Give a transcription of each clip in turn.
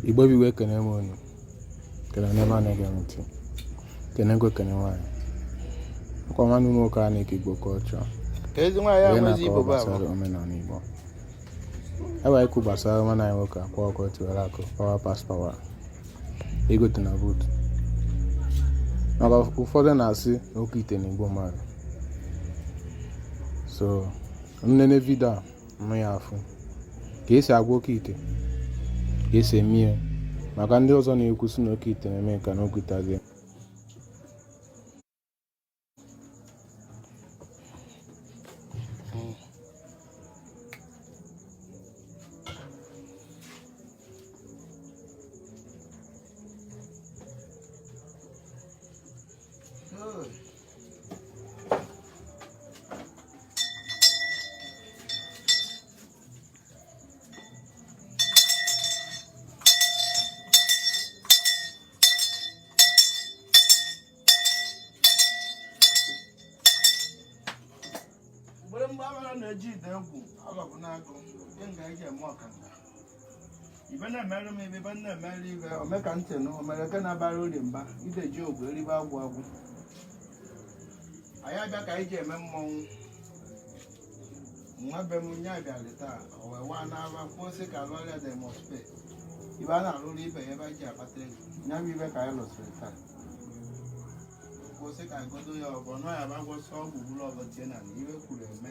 igbo bụ iwe ekene m unu kene ndị ọma na-ege m ntị kene nwoke kene nwaanyị ọ kwa nwanne m nwoke a na-eke igbo culture wee na-akọwa gbasara omenala igbo ebe anyị kwu gbasara nwanne anyị nwoke akwa ọkụkọ tiwara akị power pass power egote na buutu maka ụfọdụ na-asị na oke ite na-egbu mmadụ so nenee vidio a mụ ya afụ ka esi agwa oke ite ka esi eme ya maka ndị ọzọ na-ekwu sị na oke ite na-eme ka na okwuta gị mgbe agbara na-eji ide egwu alọbụ n'agụ nke nga eji eme ọkanda ibe na-emere m ibe ibe na-emere ibe ome ka ntị nụ omere ke na-abara uri mba ideji ọgwụ eribe agwụ agwụ anyị abịa ka anyị ji eme mmọnwụ nwa be m nye abịalị taa o wee waa n'aba kwuo sị ka a lụọrọ ya demospe ibe a na-alụrụ ibe ya ebe anyị ji akpata ego nya bụ ibe ka anyị lụsịrị taa kwuo sị ka anyị godo ya ọbọ nọ ya bụ agwọsịa ọgwụ bụrụ ọbọ tie na ibe kwuru eme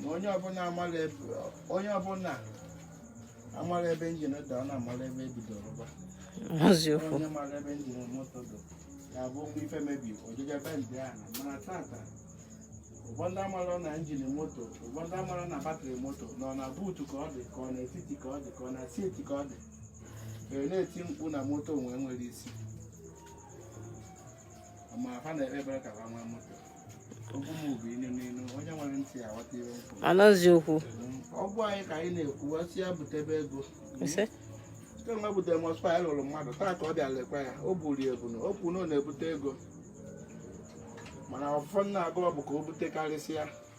na onye ọbụla amara ebe onye ọbụla amara ebe njin dị ọ na-amara ebe ebidoro ba eziokwu onye mara ebe njin moto dị ya bụ okwu ife mebie o jee ebe ndị a na mana tata ụfọdụ amara na njin moto ụfọdụ amara na batrị moto na ọ na buutu ka ọ dị ka ọ na etiti ka ọ dị ka ọ na siiti ka ọ dị were na-eti mkpu na moto nwee nwere isi ma ha na-ekpe ekpere ka ha nwee moto anazi okwu ọ bụ nya ka anyị na-ekwu sị ya butebe ego site mgbe butere mọspa anyị lụrụ mmadụ taa ka ọ bịa lekwa ya o buru ebu na o kwuru na ọ na-ebute ego mana ọfụfọ na-agụ ọ bụ ka o butekarịsịa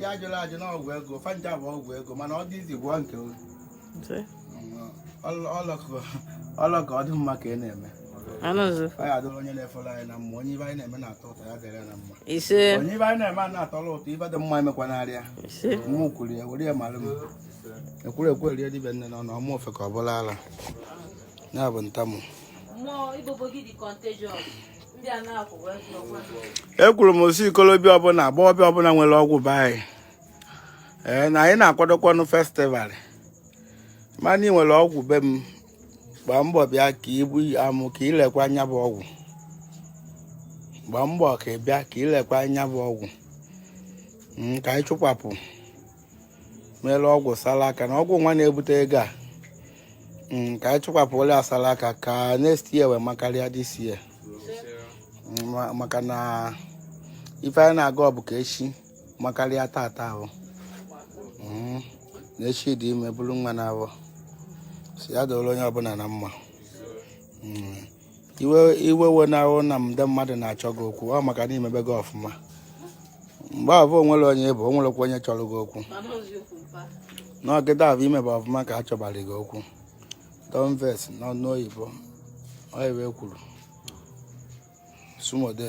ya ajụla ajụ na ọgwụ ego fanja bụ ọgwụ ego mana ọ dị izi gwụọ nke olu ọlọkọ ọ dị mma ka ị na-eme anụzụ ọ ya adịrị onye na-efere anyị na mma onye ibe anyị na-eme na-atọ ụtọ ya dịrị ya na mma ise onye ibe anyị na-eme a na-atọrọ ụtọ ibe dị mma emekwanara ya ise mụ kwuru ya were ya mara m ekwuru ekwu erie dibịa nne na ọ na ọmụ ofe ka ọ bụla ala ya bụ ntamụ ekwuru m sị okolobịa ọbụla agbọghọbịa ọbụla nwere ọgwụ be anyị ee na anyị na-akwadokwanụ festival mana ị nwere ọgwụ be m gbaa mbọ bịa ka ibu amụ ka ilekwa anya bụ ọgwụ gbaa mbọ ka ị bịa ka ilekwa anya bụ ọgwụ hmm, ka anyị chụkwapụ mere ọgwụ sara aka na ọgwụ nwa na-ebute ego a mm, ka anyị chụkwapụ ole asara aka ka next year wee makarịa this year mm, maka na ife anyị na-agọ bụ ka echi makarịa tata ahụ mm, na echi dị ime buru nwa n'afọ sị ya dụrụ onye ọbụla na mma iwe ewena gị na ndị mmadụ na-achọ gị okwu ọ maka na imebego ọfụma mgbe ahụ onwere onye bụ o nwerekwa onye chọrọ gị okwu n'ọgịda ahụ imebe ọfụma ka a chọbara gị okwu don't vex n'ọnụ oyibo oyibo kwuru sumode